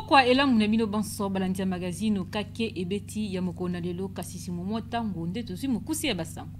pokwa elamu na bino banso balandi ya magazine okake ebeti ya mokolo na lelo kasi simomo ntango nde tozwi mokuse ya basango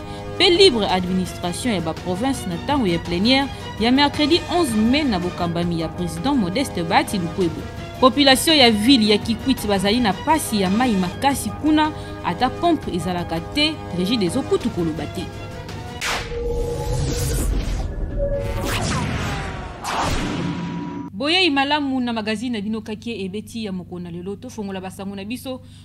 mpe libre administration ya baprovince na ntango ya plenière ya mercredi 11 mai na bokambami ya president modeste bati lukwebo population ya ville ya kikwit bazali na mpasi ya mai makasi kuna ata pompe ezalaka te regide ezokutu koloba te boyei malamu na magazine na bino kake ebeti ya mokona lelo tofongola basango na biso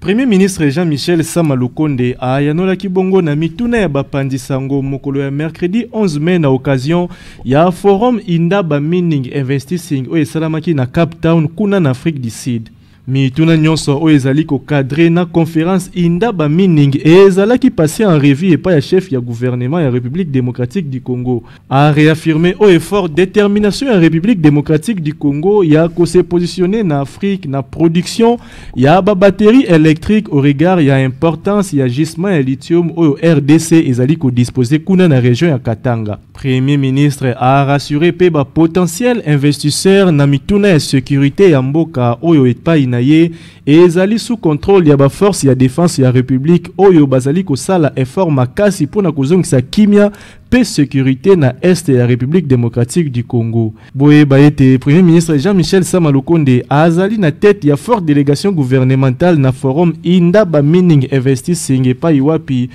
Premier ministre Jean-Michel Sama Lukonde ayanolaki bongo na mituna ya bapanzi sango mokolo ya mercredi 11 mai na occasion ya forum Indaba Mining Investing oyo esalamaki na Cape Town kuna na Afrique du Sud. Mituna nyonso oyo ezali kokadre na conference Indaba Mining ezalaki passé en revue epai ya chef ya gouvernement ya République démocratique du Congo. A réaffirmer au effort détermination ya République démocratique du Congo ya ko se positionner na Afrique na production ya ba batterie électrique au regard ya importance ya gisement ya lithium oyo RDC ezali ko disposer kuna na région ya Katanga. Premier ministre a rassuré pe ba potentiel investisseur na mituna ya sécurité ya mboka oyo epai na ye ezali sous contrôle ya ba force ya défense ya République oyo bazali kosala effort makasi pona kozongisa kimia pe sécurité na est ya République démocratique du Congo. Boyeba ete Premier ministre Jean-Michel Sama Lukonde azali na tête ya forte délégation gouvernementale na forum Indaba Mining Investing epai wapi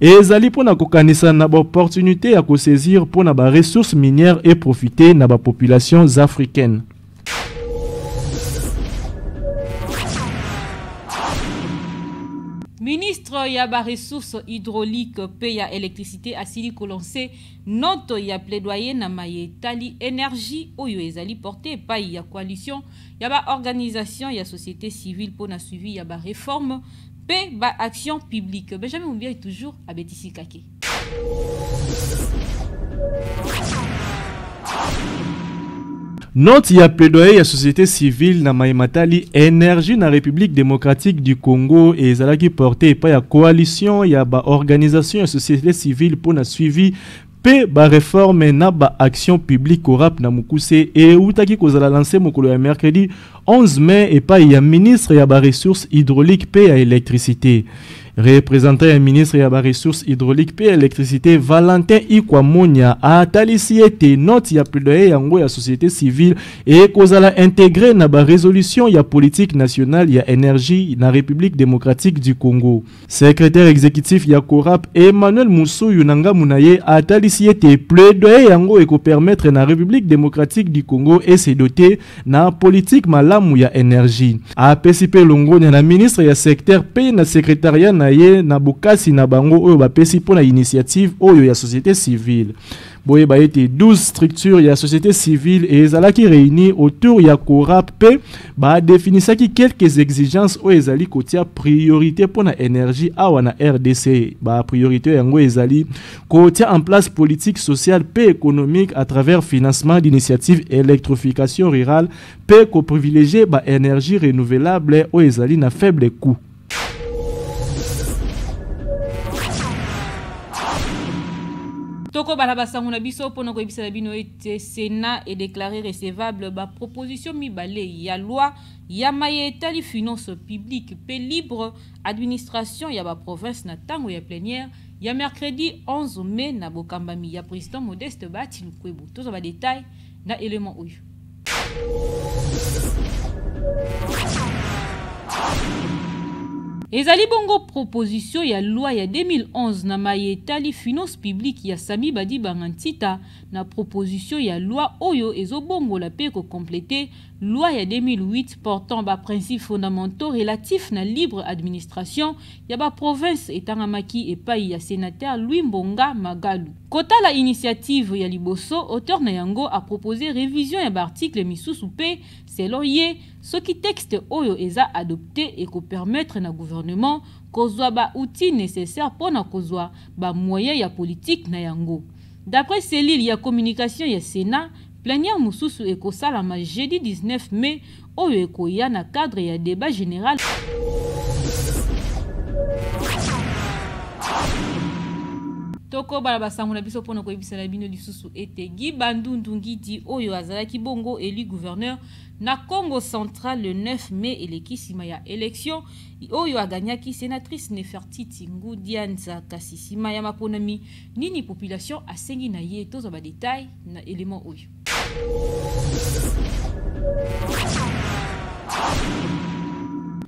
Ezali mpo na kokanisa na baopportunite ya kosaisir mpo na baressources minières e profite na bapopulations africaines. Ministre ya ba ressources hydrauliques pe ya électricité asili kolanse note ya plaidoyer na maye etali énergie oyo ezali porte epai ya coalition ya ba organisation ya société civile mpo na suivi ya ba réforme mpe ba action publique benjamin mumbiai toujours abetisi kake Note ya plaidoyer ya société civile na maye matali énergie na République démocratique du Congo et ezalaki porte epai ya coalition ya ba organisation ya société civile mpo na suivi Pe ba reforme na ba action publique au rap na mukuse eutaki kozala lance mokolo ya mercredi 11 mai epai ya ministre ya ba ressources hydrauliques pe ya electricite Représentant ya ministre ya ba ressources hydrauliques pe ya electricite Valentin Ikwa Monya atalisi ete note ya plaidoyer yango ya société civile ekozala integre na ba resolution ya politique nationale ya energie na République démocratique du Congo. Secretaire executif ya Corap Emmanuel Musuyu na ngambo na ye atalisi ete plaidoyer yango ekopermettre na République démocratique du Congo ese dote na politique malamu ya energie. Apesi mpe longonya na ministre ya secteur mpe na secretariat na ye na bokasi na bango oyo bapesi mpo na initiative oyo ya société civile. boyeba ete 12 structure ya société civile ezalaki réunie autour ya corap mpe badefinisaki quelques exigences oyo ezali kotia priorité mpo na énergie awa na rdc bapriorité yango ezali kotia en place politique sociale mpe économique à travers financement d'initiative électrification rurale mpe koprivilégie baénergie renouvelable oyo ezali na faible coût tokobala basango na biso mpo na koyebisa na bino ete senat edeklare recevable baproposition mibale ya loi ya maye etali finance publique mpe libre administration ya baprovince na ntango ya plenière ya mercredi 11 mai na bokambami ya président modeste bati lukwebo tozwa badetail na element oyo ezali bongo proposition ya loi ya 2011 na maye etali finance publique ya sami badibanga ntita na proposition ya loi oyo ezobongola mpe kokomplete Loi ya 2008 portant ba principes fondamentaux relatifs na libre administration ya ba provinces etangamaki epayi ya senateur Louis Mbonga Magalu. Kotala initiative ya liboso, auteur na yango a proposer revision ya ba articles misusu mpe, selon ye, soki texte oyo eza adopter eko permettre na gouvernement kozwa ba outils necessaires mpo na kozwa ba moyens ya politique na yango. D'après cellule ya communication ya Senat, Plenière mosusu ekosalama jeudi 19 mai oyo ekoya na cadre ya debat general. tokoba na basango na biso mpo na koyebisana bino lisusu ete gi bandundu ngidi oyo azalaki bongo elu gouverneur na congo central le 9 mai eleki nsima ya elektio oyo aganyaki senatrice nefertiti ngudianza kasi nsima ya maponami Nini population asengi na ye tozwa ba detail na element oyo.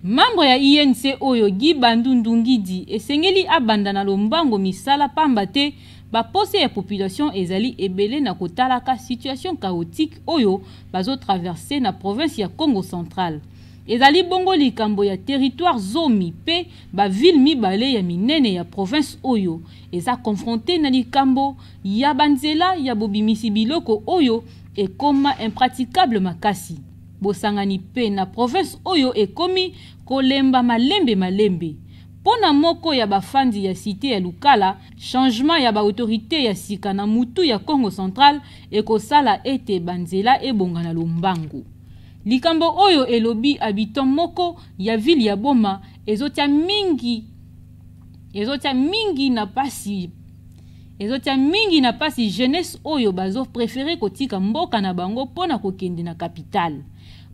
Membre ya INC oyo Guy Bandundu Ngidi esengeli abanda na lombango misala pamba te bapose ya population ezali ebele na kotalaka situation chaotique oyo bazo traverse na province ya Congo central. Ezali bongo likambo ya territoire zomi pe ba ville mibale ya minene ya province oyo eza confronte na likambo ya banzela ya bobimisi biloko oyo ekoma impraticable makasi bosangani mpe na province oyo ekomi kolemba malembe malembe mpo na moko ya bafandi ya site ya lukala changement ya baautorité ya sika na mutu ya congo central ekosala ete banzela ebonga na lombangu likambo oyo elobi habitant moko ya ville ya boma ezotya mingi ezotia mingi na pasi ezotia mingi na pasi jeunesse oyo bazo prefere kotika mboka na bango mpo na kokende na kapitale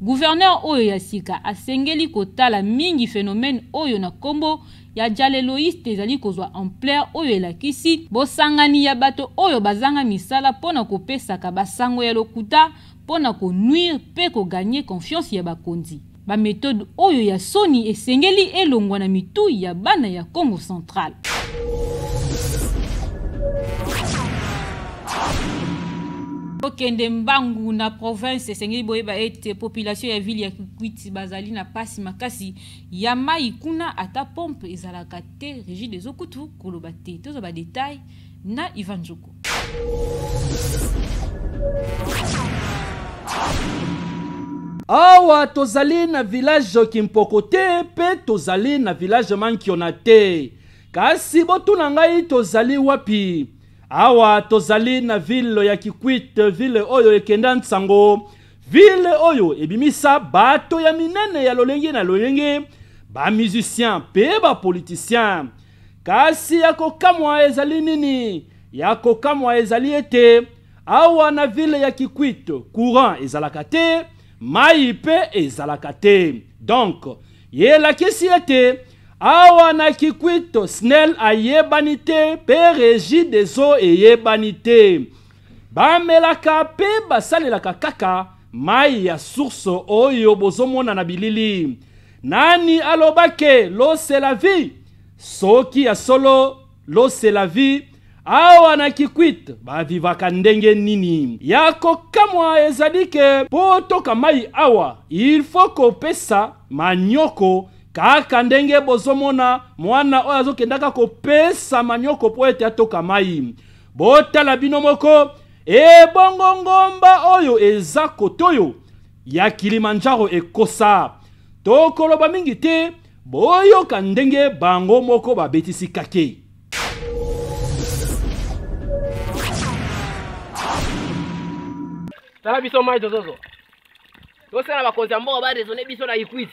gouverneur oyo ya sika asengeli kotala mingi phénomène oyo na nkombo ya jaleloiste ezali kozwa ampleur oyo elakisi bosangani ya bato oyo bazanga misala mpo na kopesaka basango ya lokuta mpo na konuire mpe koganye confiance ya bakonzi Ba methode oyo ya soni esengeli elongwa na mitu ya bana ya Congo central. bokende mbangu na province esengeli boyeba ete population ya ville ya kikwiti bazali na pasi makasi ya mai kuna ata pompe ezalaka te rigide ezokutu koloba te tozwa badetail na Ivan Nzuku. awa tozali na village kimpoko te mpe tozali na village mankiona te kasi botuna ngai tozali wapi awa tozali na ville ya kikwite ville oyo ekenda nsango ville oyo ebimisa bato ya minene ya lolenge na lolenge bamusicien mpe bapolitisien Kasi ya kokamwa ezali nini? Ya kokamwa ezali ete awa na ville ya Kikwit courant ezalaka te, mai mpe ezalaka te. Donc ye elakisi ete awa na Kikwit SNEL ayebani te mpe Regie des eaux eyebani te. Bamelaka mpe basalelaka kaka mai ya source oyo bozomona na bilili. Nani aloba ke l'eau c'est la vie? Soki ya solo l'eau c'est la vie, awa na kikwit bavivaka ndenge nini ya kokamwa ezali ke mpo toka mai awa il faut kopesa manyoko kaka ndenge bozomona mwana oyo azokendaka kopesa manyoko mpo ete atoka mai botala bino moko ebongo ngomba oyo eza kotoyo ya Kilimanjaro ekosa. Tokoloba mingi te, boyoka ndenge bango moko babetisi kakei. Tala biso mai tozozwa. Tosala bakonzi ya mboka ba raisonner biso na Ikwiti.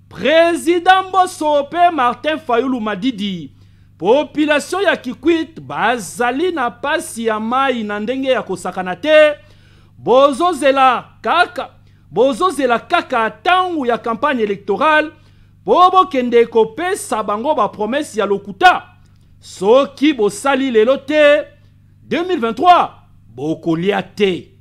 President Mboso pe Martin Fayulu Madidi, population ya Kikwit bazali na pasi ya mayi na ndenge ya kosakana te, bozozela kaka bozozela kaka tango ya campagne electorale po bokende kopesa bango ba promesse ya lokuta. Soki bosali lelo te 2023 bokolia te.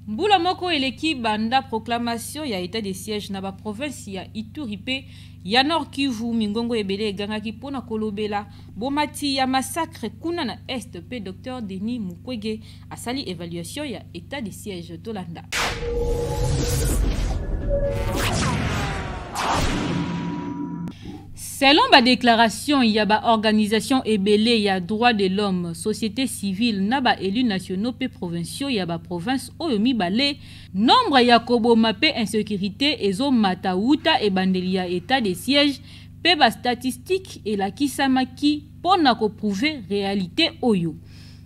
mbula moko eleki banda proclamation ya etat de siège na baprovinsi ya ituri mpe ya nord kivu mingongo ebele egangaki mpo na kolobela bomati ya massacre kuna na est mpe dr denis mukwege asali evaluation ya etat de siège tolanda selon badéclaration ya baorganisation ebele ya droit de l'homme société civile na baélus nationaux mpe provinciaux ya baprovince oyo mibale nombre ya koboma mpe insécurité ezomata wuta ebandeli ya état de siège mpe bastatistike elakisamaki mpo na koprouve réalité oyo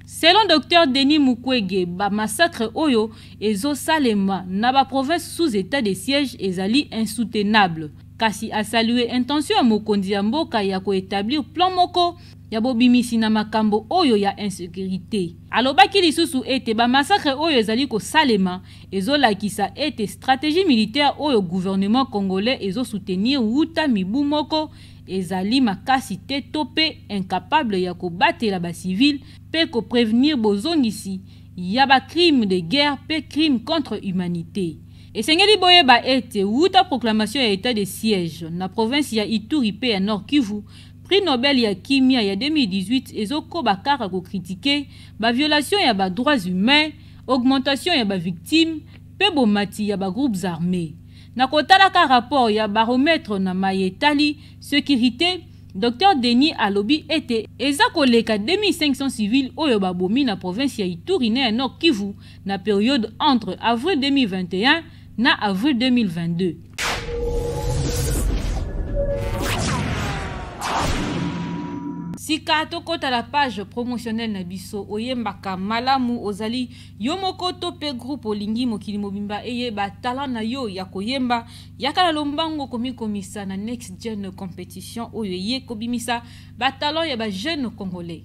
Selon Docteur Denis Mukwege, ba massacres oyo ezo salema na ba provinces sous etat de siège ezali insoutenable. Kasi a saluer intention ya mokonzi ya mboka ya ko etablir plan moko ya bobimisi na makambo oyo ya insecurite. Alobaki lisusu ete ba massacres oyo ezali ko salema ezo lakisa ete strategie militaire oyo gouvernement congolais ezo soutenir wuta mibu moko ezali makasi te to mpe incapable ya kobatela ba civil mpe ko prevenir bozongisi ya ba crime de guerre mpe crime contre humanite. Esengeli boyeba ete wuta proclamation ya etat de siège na province ya Ituri mpe ya Nord Kivu, prix Nobel ya kimia ya 2018 ezokoba kaka ko critiquer ba violations ya ba droits humains, augmentation ya ba victimes mpe bomati ya ba groupes armes. Na kotalaka rapport ya Baromètre na maye etali securite, Docteur Denis alobi ete eza koleka 2500 civils oyo babomi na province ya Ituri na ya Nord-Kivu na periode entre avril 2021 na avril 2022. Sika tokota na page promotionnelle na biso, oyembaka malamu, ozali Yo moko to pe groupe olingi mokili mobimba eyeba talent na yo ya koyemba, yaka na lombango komikomisa na Next Gen competition oyo eye kobimisa ba talents ya ba jeunes congolais.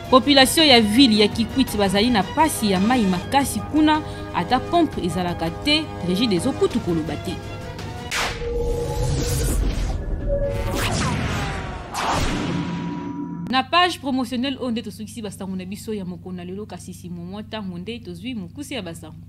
Population ya ville ya Kikwit bazali na pasi ya mai makasi kuna ata pompe ezalaka te rigide ezokutu koloba te. na page promotionnelle oyo nde tosukisi basango na biso ya mokolo na lelo kasi simomo ntango nde tozwi mokuse ya basango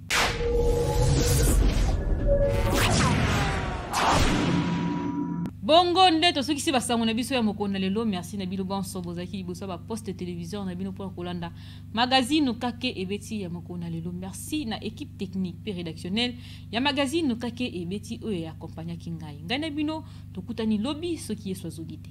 bongo nde tosukisi basango na biso ya mokolo na lelo merci na bino banso bozalaki liboso ya baposte téléviseur na bino mpona kolanda magazine kake ebeti ya mokolo na lelo merci na équipe technique mpe rédactionnelle ya magazine kake ebeti oyo ya akompagnaki ngai ngai na bino tokutani lobi soki yesu azoki te